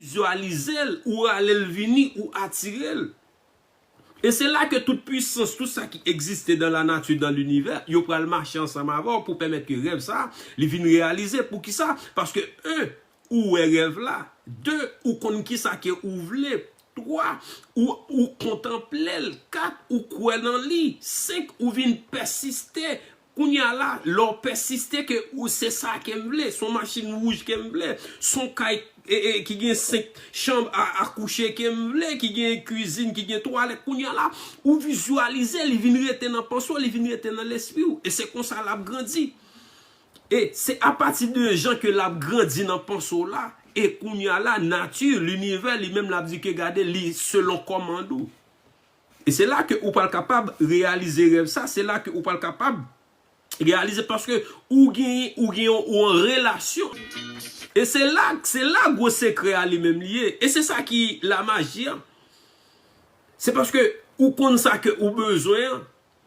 vizualize l, ou rale l vini, ou atire l. E se la ke tout pwisans, tout sa ki egziste dan lanati, dan linivè, yo pral mache ansanm avè w pou pèmèt ke rèv sa a, li vin reyalize. Poukisa? Paske 1, ou wè rèv la, 2, ou konn kisa ke ou vle, 3, ou, ou kontanple l, 4, ou kwè nan li, 5, ou vin pèsiste Kounya la, lè w pèsiste ke ou se sa ke m vle, son machin wouj ke m vle, son kay ki gen 5 chanm a kouche ke m vle, ki gen kwizin, ki gen twalèt, kounya la, ou vizyalize, li vin rete nan panse w, li vin rete nan lespri w, e se konsa l ap grandi. E se apati de jan ke l ap grandi nan panse w la, e kounya la, nati, linivè, li menm l ap di ke gade li selon kòmand ou. E se la ke ou pral kapab reyalize rèv sa, se la ke ou pral kapab reyalize paske ou genyen, ou gen yon, ou an relasyon. E se la, se la gwo sekrè a li menm li ye. E se sa ki lamaji an. Se paske ou konn sa ke ou bezwen an.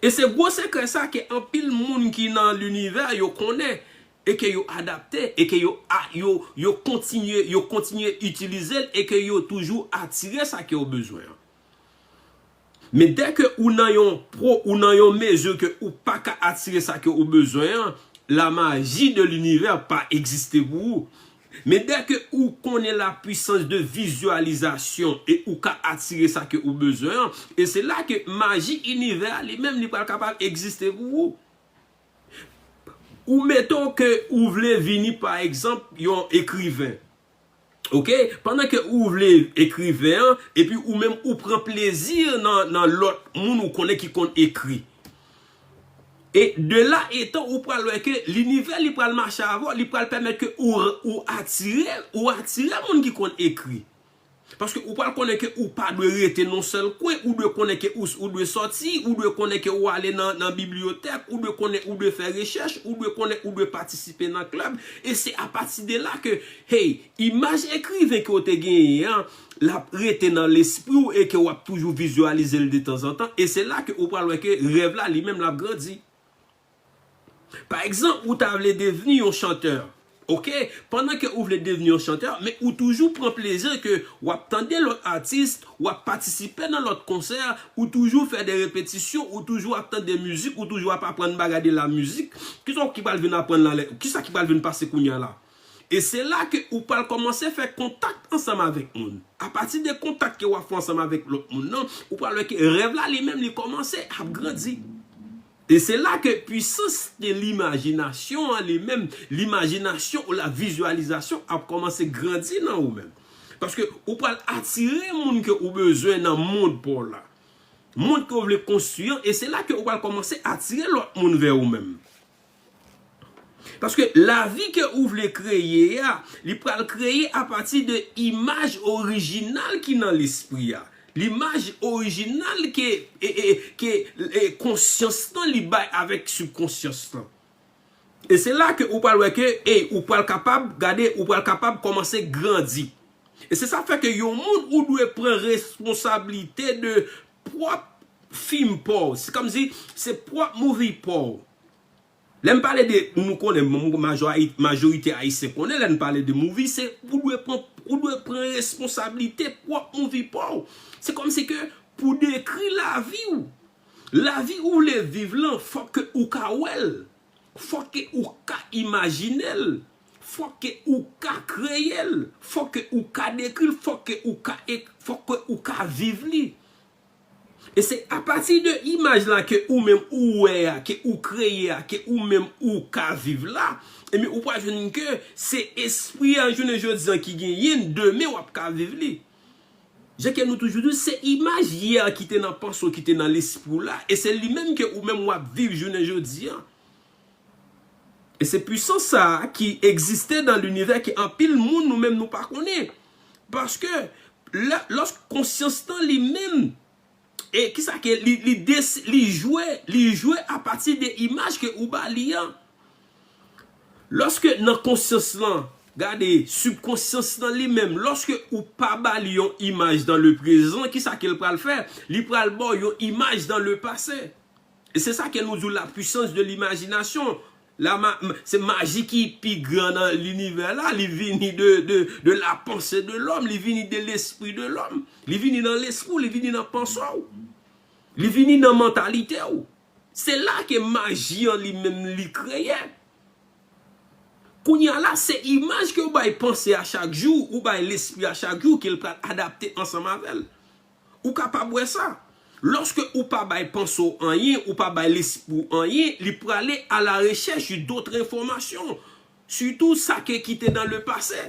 E se gwo sekrè sa ke anpil moun ki nan linivè yo konnen e ke yo adapte e ke yo a yo yo kontinye yo kontinye itilize l e ke yo toujou atire sa ke yo bezwen an. Men dè ke ou nan yon pro ou nan yon mezi ke ou pa ka atire sa ke ou bezwen an, la maji de linivè pa egziste pou ou. Men dèke ou konnen la pwisans de vizyalizasyon e ou ka atire sa ke ou bezwen an, e se la ke maji inivè a li menm li pral kapab egziste pou ou. Ou meton ke ou vle vini pa egzanp yon ekriven. Ok, pandan ke ou vle ekriven an, epi ou menm ou pran plezi nan lòt moun ou konnen ki konn ekri. E de la etan ou pral wè ke linivè li pral mache avè w, li pral pèmèt ke ou atire, ou atire moun ki konn ekri. Paske ou pral konnen ke ou pa dwe rete nan yon sèl kwen, ou dwe konnen ke ou dwe sòti, ou dwe konnen ke ou ale nan bibliyotèk, ou dwe konnen ou dwe fè rechèch, ou dwe konnen ou dwe patisipe nan klèb, e se apati de la ke, hey, imaj ekriven ke w te genyen an, l ap rete nan lespri w e ke w ap toujou vizyalize l detanzantan e se la ke ou pral wè ke rèv la li menm l ap grandi. Pa egzanp, ou ta vle devni yon chantè, ok, pandan ke ou vle devni yon chantè, men ou toujou pran plezi ke w ap tande lòt atis, w ap patisipe nan lòt konsè, ou toujou fè de repetisyon, ou toujou ap tande mizik, ou toujou ap aprann bagay de lamizik, kisa w ki pral vin aprann la lè, kisa ki pral vin pase kounye a la? E se la ke ou pral kòmanse fè kontak ansanm avèk moun. A pati de kontak ke wap fè ansanm avèk lòt moun nan, ou pral wè ke rèv la li menm li kòmanse ap grandi. E se la ke pwisans de limajinasyon an li menm, limajinasyon ou la vizyalizasyon ap kòmanse grandi nan ou menm. Paske ou pral atire moun ke ou bezwen nan mond pa w la. Mond ke ou vle konstwi an, e se la ke ou pral kòmanse atire lòt moun vè ou menm. Paske lavi ke ou vle kreye a, li pral kreye apati de imaj orijinal ki nan lespri a. Limaj orijinal ke konsyans lan li bay avèk sibkonsyans lan. E se la ke ou pral wè ke ey ou pral kapab gade ou pral kapab kòmanse grandi. E se sa fè ke yon moun ou dwe pran responsablite de pwòp fim paw. Se kòmsi se pwòp movie paw. Lèm pale de nou konnen majorite ayisyen konnen lèn pale de movie se ou dwe pran ou dwe pran responsablite pwòp movie paw se kòmsi ke pou dekri laviw lavi ou vle viv lan fòk ke ou ka wèl fòk ke ou ka imajinel fòk ke ou ka kreyel fòk ke ou ka dekril fòk ke ou ka fòk ke ou ka viv li. E se apati de imaj la ke ou menm ou wè a, ke ou kreye a, ke ou menm ou ka viv la, ebyen ou pral jwenn ke se espri a jounen jodi an ki genyen, demen w ap ka viv li. Jan ke nou toujou di, se imaj yè ki te nan panse w, ki te nan lespri w la, e se li menm ke ou menm w ap viv jounen jodi an. E se pwisans sa a ki egziste dan linivè ke anpil moun nou menm nou pa konnen. Paske, lè, lòsk konsyans lan li menm, e ki sa ke li, li des, li jwe, li jwe a pati de imaj ke ou ba li an. Lòske nan konsyans lan, gade, sibkonsyans lan li menm, lòske ou pa ba li yon imaj dan leprezan, ki sa ke l pral fè? Li pral ba w yon imaj dan lepase. E se sa ke nou di w la puissance de l'imagination. La ma, se maji ki pi gran nan linivè la, li vini de, de, de la panse de lòm, li vini de lespri de lòm. Li vini nan lespri w, li vini nan panse w. Li vini nan mantalite w. Se la ke maji an li menm li kreye. Kounye a la, se imaj ke w bay panse a chak jou, ou bay lespri a chak jou ke l pral adapte ansanm avè l. Ou kapab wè sa. Lòske ou pa bay panse w anyen, ou pa bay lespri w anyen, li prale a la rechèch de dotre enfòmasyon, sitou sa ke ki te dan le pase.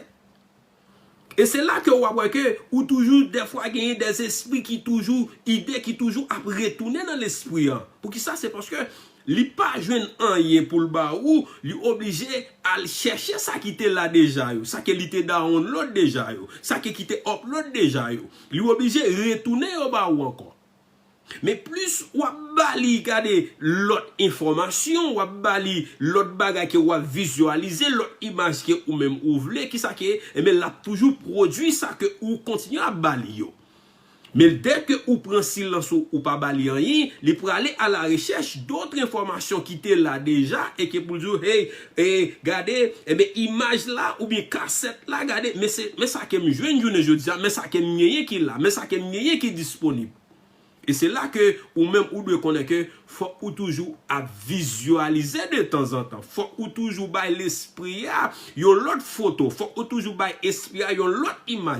E se la ke ou ap wè ke ou toujou dèfwa genyen dè zespri ki toujou, ide ki toujou ap retounen nan lespri an. Poukisa? Se paske Li pa jwenn anyen pou l ba ou, li oblije al chèche sa ki te la deja yo, sa ke li te download deja yo, sa ke ki te upload deja yo. Li oblije retounen yo ba ou ankò. Men plis w ap ba li gade lòt enfòmasyon, w ap ba li lòt bagay ke ou ap vizyalize, lòt imaj ke ou menm ou vle, kisa ke, enben l ap toujou pwodui sa ke ou kontinye ap ba li yo. Men dèke ou pran silans ou, ou pa ba li anyen, li prale a la rechèch dotre enfòmasyon ki te la deja e ke pou l di w, hey, e, gade, enben imaj la oubyen kasèt la, gade, men se, men sa ke m jwenn jounen jodi a, men sa ke m genyen ki la, men sa ke m genyen ki disponib. E se la ke ou menm ou dwe konnen ke fòk ou toujou ap vizyalize de tanzantan, fòk ou toujou bay lespri a yon lòt foto, fòk ou toujou bay espri a yon lòt imaj.